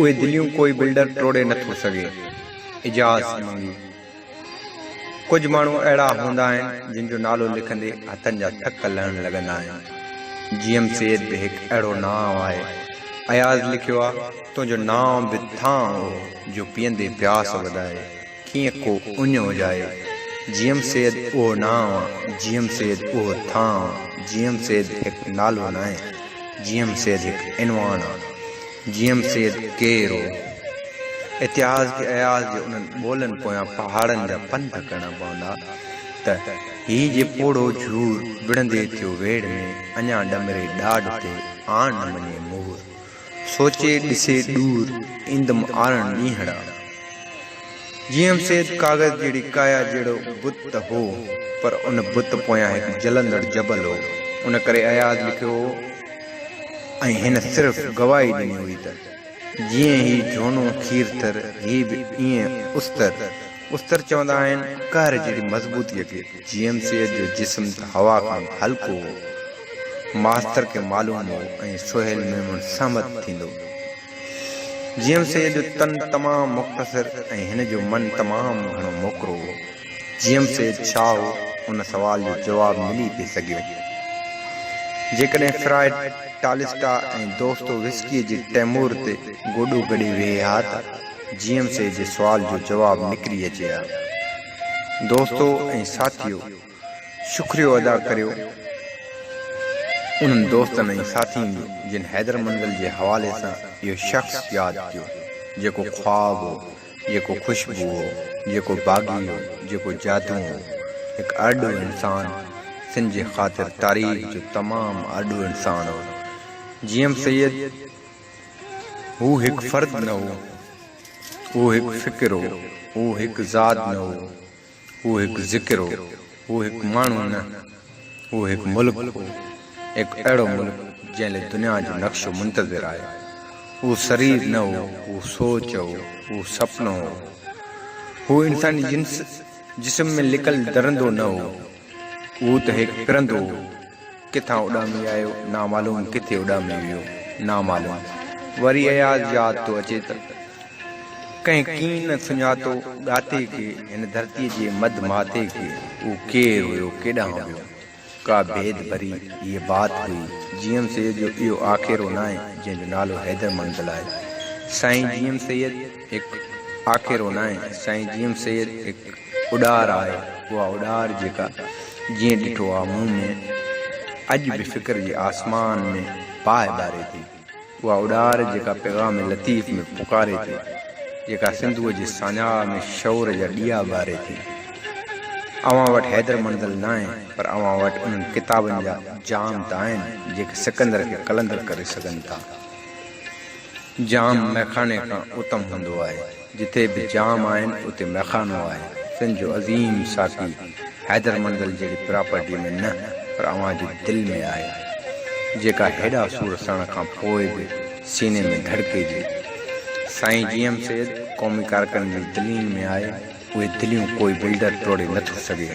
اهي دليون ڪوئي بلڊر ٽوڙي نه ٿو سگهي. اجاز منگي. ڪجهه ماڻهو اهڙا هوندا آهن جن جو نالو لکندي هٿن جا ٿڪ لهڻ لڳندا آهن. جي ايم سيد به هڪ اهڙو نانء آهي. اياز لکيو آهي تنهنجو نانء به ٿانء هو جو پيئندي پياس وڌائي. ڪيئن ڪو اڃ اجائي. جيئم سيد اهو نانء آ، جيئم سيد اهو ٿانء آ، جيئم سيد هڪ نالو ناهي، جيئم سيد هڪ عنوان آ. جيئم سيد ڪير هو؟ اتهاس کي اياز جي انهن ٻولن پويان پهاڙن جا پنڌ ڪرڻا پوندا ته هي جي پوڙهو جهور وڙهندي ٿيو ويڙهه ۾ اڃا ڏمري ڏاڍ تي آڻ نه مڃي مور. سوچي ڏسي ڏور ايندم آرڻ ڏينهڙا. جي ايم سيد ڪاغذ جهڙي ڪايا جهڙو بت ته هو پر ان بت پويان هڪ جلندڙ جبل هو ان ڪري اياز لکيو هو ۽ هن صرف گواهي ڏني هئي ته جيئن هي جهونو کيرٿر هي به ايئن استر استر چوندا آهن قهر جهڙي مضبوطيء کي جي ايم سيد جو جسم ته هوا کان به هلڪو هو ماستر کي معلوم هو ۽ سهيل ميمڻ سهمت ٿيندو. جيئم سيد جو تن تمام مختصر ۽ هن جو من تمام گهڻو موڪرو هو. جيئم سيد ڇا هو؟ ان سوال جو جواب ملي پئي سگهيو. جيڪڏهن فرائيڊ، ٽالسٽا ۽ دوستو وسڪيء جي تيمور تي گوڏو گڏي ويهي ها ته جيئم سيد جي سوال جو جواب نڪري اچي ها. دوستو ۽ ساٿيو! شڪريو ادا ڪريو انهن دوستن ۽ ساٿين جو جن حيدر منزل جي حوالي سان اهو شخص ياد ڪيو جيڪو خواب هو جيڪو خوشبو هو جيڪو باغي هو جيڪو جادو هو هڪ ارڏو انسان سنڌ جي خاطر تاريخ جو تمام ارڏو انسان هو جيئم سيد هو هڪ فرد نه هو اهو هڪ فڪر هو اهو هڪ ذات نه هو هو هڪ ذڪر هو، هو هڪ ماڻهو نه، هو هڪ ملڪ هو، هڪ اهڙو ملڪ جنهن لاء دنيا جو نقشو منتظر آهي. هو سرير نه هو، هو سوچ هو، هو سپنو هو. هو انساني جنس جسم ۾ لڪل درندو نه هو، هو ته هيڪ پرندو هو، ڪٿان اڏامي آيو نامعلوم، ڪٿي اڏامي ويو نامعلوم. وري اياز ياد ٿو اچي ته ڪنهن ڪين نه سڃاتو ڳاتي کي، هن ڌرتيء جي مڌ ماٿي کي. هو ڪير هيو، ڪيڏانهن ويو؟ ڪا ڀيد ڀري هيء بات هئي. جي ايم سيد جو اهو آکيرو ناهي، جنهن جو نالو حيدر منزل آهي. سائين جي ايم سيد! هڪ آکيرو ناهي سائين جي ايم سيد هڪ اڏار آهي اها اڏار جيڪا جيئن ڏٺو آ مون ۾ اڄ به فڪر جي آسمان ۾ باهه ٻاري ٿي اها اڏار جيڪا پيغام لطيف ۾ پڪاري ٿي جيڪا سنڌوء جي ساڃاهه ۾ شعور جا ڏيئا ٻاري ٿي اوهان وٽ حيدر منزل ناهي پر اوهان وٽ انهن ڪتابن جا جام ته آهن جيڪي سڪندر کي قلندر ڪري سگهن ٿا. جام مئخاني کان اتم هوندو آهي. جتي به جام آهن اتي مئخانو آهي. سنڌ جو عظيم ساقي حيدر مندل جهڙي پراپرٽي ۾ نه پر اوهان جي دل ۾ آهي. جيڪا هيڏا سور سهڻ کان پوء به سيني ۾ ڌڙڪي جي. سائين جي ايم سيد قومي ڪارڪن جي دلين ۾ آهي. اهي دليون ڪوئي بلڊر ٽوڙي نٿو سگهي.